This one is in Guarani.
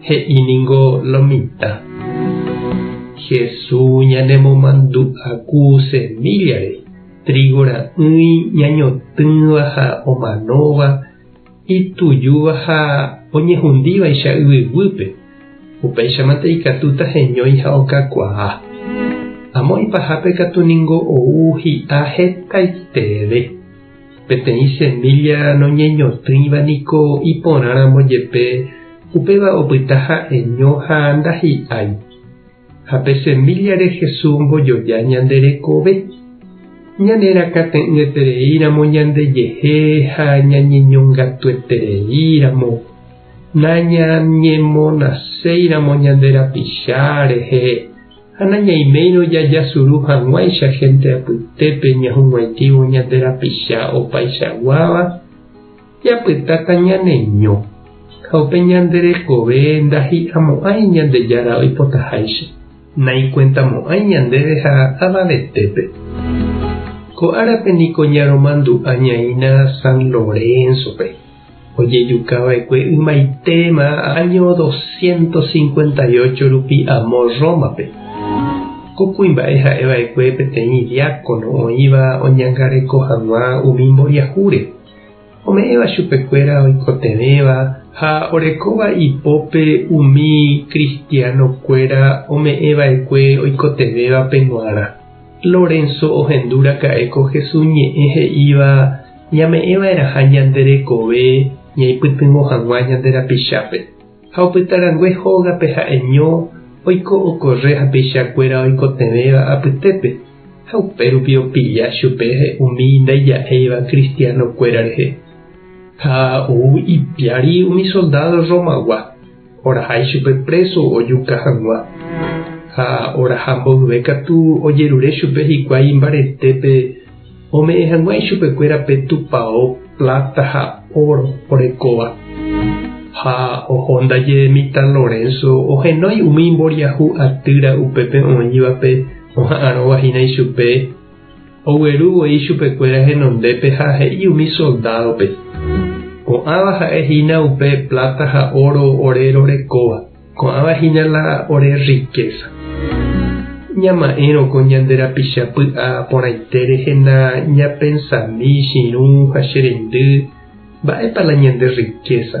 He'i ningo lo mitã. Hesu ñanemomandu'aku semíllare, trígo ra'ỹi ñañotỹva ha omanóva, itujúva ha oñehundívaicha yvyguýpe, upéichamante ikatúta heñói ha okakuaa. Amo ipahápe katu ningo ou hi'a hetaitereve. Peteĩ semílla noñeñotỹiva niko iporãramo jepe, upéva opyta ha'eño ha ndahi'ái. Ha pe semíllare Jesús ombojoja ñande rekove. Ñanerakãte'ỹetereíramo ñandejehe ha ñañeñongatuetereíramo, nañañemonaséiramo ñande rapicha rehe, Ha nañaiméirõ jajasuru hag̃uáicha hénte apytépe ñahug̃uaitívo ñande rapicha opaichaguáva, japytáta ñaneño, ha upe ñande rekove ndahi'amo'ãi Ñandejára oipotaháicha. Naikuentamo'ãi ñandéve ha avavetépe. Ko árape niko ñaromandu'añaína San Lorénzope. Ojejuka va'ekue ymaitéma áño doscientos cincuenta y ocho rupi amo Rómape. Ko kuimba'e ha'e va'ekue peteĩ diákono oĩva oñangareko hag̃ua umi mboriahúre, ome'ẽva chupekuéra oikotevẽva ha orekóva ipópe umi kristianokuéra ome'ẽ va'ekue oikotevẽvape g̃uarã. Lorenzo ohendu raka'e ko Jesús ñe'ẽ he'íva Ñame'ẽva'erãha ñande rekove ñaipytyvõ hag̃ua ñande rapichápe, ha opyta rangue hógape ha'eño oiko okorre hapeichakuéra oikotevẽva apytépe, ha upérupi opilla chupe umi ndaija'éiva kristianokuéra rehe. Ha ou ipiári umi soldádo Rromagua. Oraha ichupe préso ojuka hag̃ua, ha oraha mboyve katu ojerure chupe hikuái imbaretépe ome'ẽ hag̃ua ichupekuéra pe tupao pláta ha óro orekóva. Ha oho ndaje mitã Lorenzo ohenói umi imboriahu atýra upépe oĩvape oha'arõva hína ichupe, Ogueru voi chupekuéra henondépe ha he'i umi soldádope, Ko'ãva ha'e hína upe pláta ha óro ore rorekóva, ko'ãva hína la ore rrikésa. Ñama'ẽrõ ko ñande rapicha py'a porãite rehena ñapensami, Chirũ ha che rendy, mba'épa la ñande rrikésa?